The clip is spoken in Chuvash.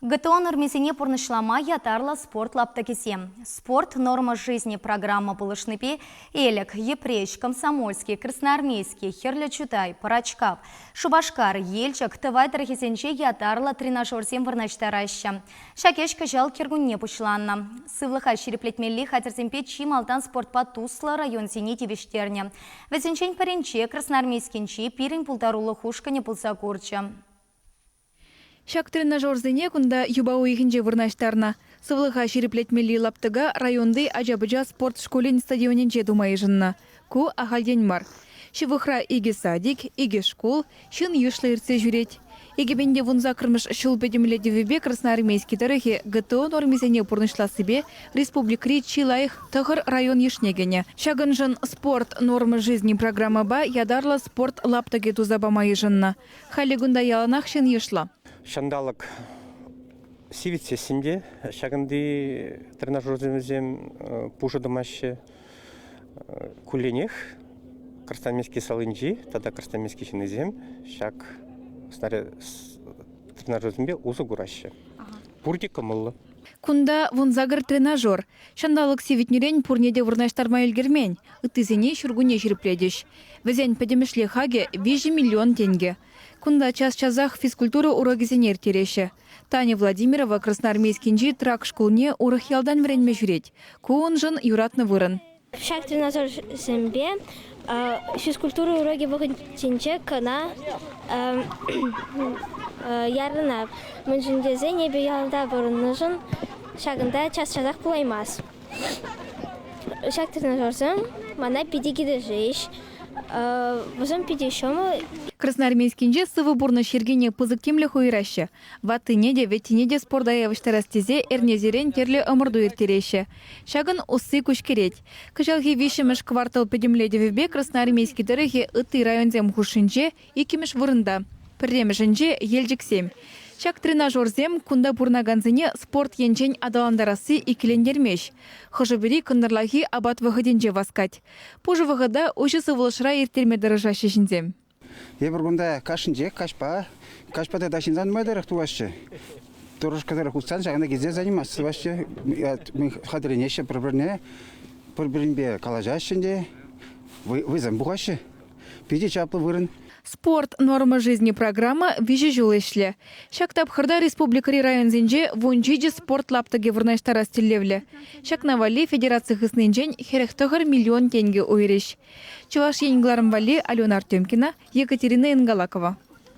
ГТО нормисене пурнӑҫлама ятарлӑ спорт лаптӑкӗсем «Спорт норма жизни» программа пулӑшнипе Элӗк, Йӗпреҫ, Комсомольски, Красноармейски, Хӗрлӗ Чутай, Пӑрачкав, Шупашкар, Елчӗк тӑвай тӑрӑхӗсенче ятарлӑ тренажерсем вырнаҫтараҫҫӗ. Ҫак ӗҫ кӑҫал кӗркунне пуҫланнӑ. Сывлӑха ҫирӗплетмелли хатӗрсемпе чи малтан спортпа туслӑ районсене тивӗҫтернӗ. Вӗсенчен пӗринче Красноармейскинчи пирӗн пултарулӑх ушкӑнӗ пулса курчӗ. Ҫак тренажерсене кунта юпа уйӑхӗнче вырнаҫтарнӑ. Сывлӑха ҫирӗплетмелли лаптӑка районти ача-пӑча спорт шкулӗн стадионӗнче тума йышӑннӑ. Ку ахальтен мар. Ҫывӑхра икӗ садик, икӗ шкул, ҫын йышлӑ иртсе ҫӳрет. Икӗпенте вун саккӑрмӗш ҫул пӗтӗмлетӗвӗпе Красноармейски тӑрӑхӗ ГТО нормисене пурнӑҫлассипе республикӑри чи лайӑх тӑхӑр район йышне кӗнӗ. Ҫакӑншӑн Спорт норма жизни программӑпа ятарлӑ спорт лаптӑкӗ туса пама йышӑннӑ. Халӗ кунта яланах ҫын йышлӑ. Ҫанталӑк сивӗтсессӗн те ҫакӑнти тренажерсем пушӑ тӑмаҫҫӗ. Кулленех Красноармейски салинчи тата Красноармейски ҫыннисем ҫак тренажерсемпе усӑ кураҫҫӗ. Пурте кӑмӑллӑ. Кунта вунсакӑр тренажер, Ҫанталӑк сивӗтнӗрен пурне те вырнаҫтарма ӗлкӗрмен. Ыттисене ҫуркунне ҫирӗплетӗҫ. Вӗсен пӗтӗмӗшле хакӗ виҫӗ миллион тенкӗ. Кунта час-часах физкультура урокӗсене ирттереҫҫӗ. Таня Владимирова Красноармейскинчи Трак шкулне урӑх ялтан вӗренме ҫӳрет. Ку уншӑн юратнӑ вырӑн. Ҫак динозаврсемпе физкультура урокӗ вӑхӑтӗнче кӑна ярӑнать. Мӗншӗн тесен эпӗ ялта пурӑннӑшӑн ҫакӑнта час-часах пулаймасть. Ҫак динозаврсем мана питӗ килӗшӗҫ. Вӗсем питӗ ҫӑмӑл. Красноармейскинче сывӑ пурнӑҫ йӗркине пысӑк тимлӗх уйӑраҫҫӗ. Ваттине те, вӗттине те спорта явӑҫтарас тесе эрнесерен тӗрлӗ ӑмӑрту ирттереҫҫӗ. Ҫакӑн усси куҫкӗрет. Кӑҫалхи виҫҫӗмӗш квартал пӗтӗмлетӗвӗпе Красноармейски тӑрӑхӗ ытти районсем хушшинче иккӗмӗш вырӑнта, пӗрремӗшӗнче, Елчӗксем. Ҫак тренажерсем кунта пурӑнакансене спорт енчен аталантарасси иккӗлентермест. Хӑшӗ-пӗри кӑнтӑрлахи апат вӑхӑтӗнче васкать. Пушӑ вӑхӑта уҫӑ сывлӑшра ирттерме тӑрӑшаҫҫӗ ҫынсем. Эпир кунта кашнинчех каҫпа, каҫпа тата ҫынсан нумай тӑрӑх тӑваҫҫӗ. Турӑшкӑ тӑрӑх утсан ҫакна килсе заниматься тӑваҫҫӗ. Хатӗрленеҫҫӗ пӗр-пӗрне, пӗр-пӗринпе калаҫаҫҫӗ те вӑйсем пухаҫҫӗ. Питӗ чаплӑ вырӑн. Спорт норма жизни программа виҫӗ ҫул ӗҫлӗ. Ҫак тапхӑрта республикӑри районсенче вун ҫичӗ спорт лаптӑкӗ вырнаҫтарас тӗллевлӗ. Ҫакна валли федераци хыснинчен хӗрӗх тӑхӑр миллион тенкӗ уйрӗҫ. Чӑваш Ен кӑларӑм валли Алена Артемкина, Екатерина Ингалакова.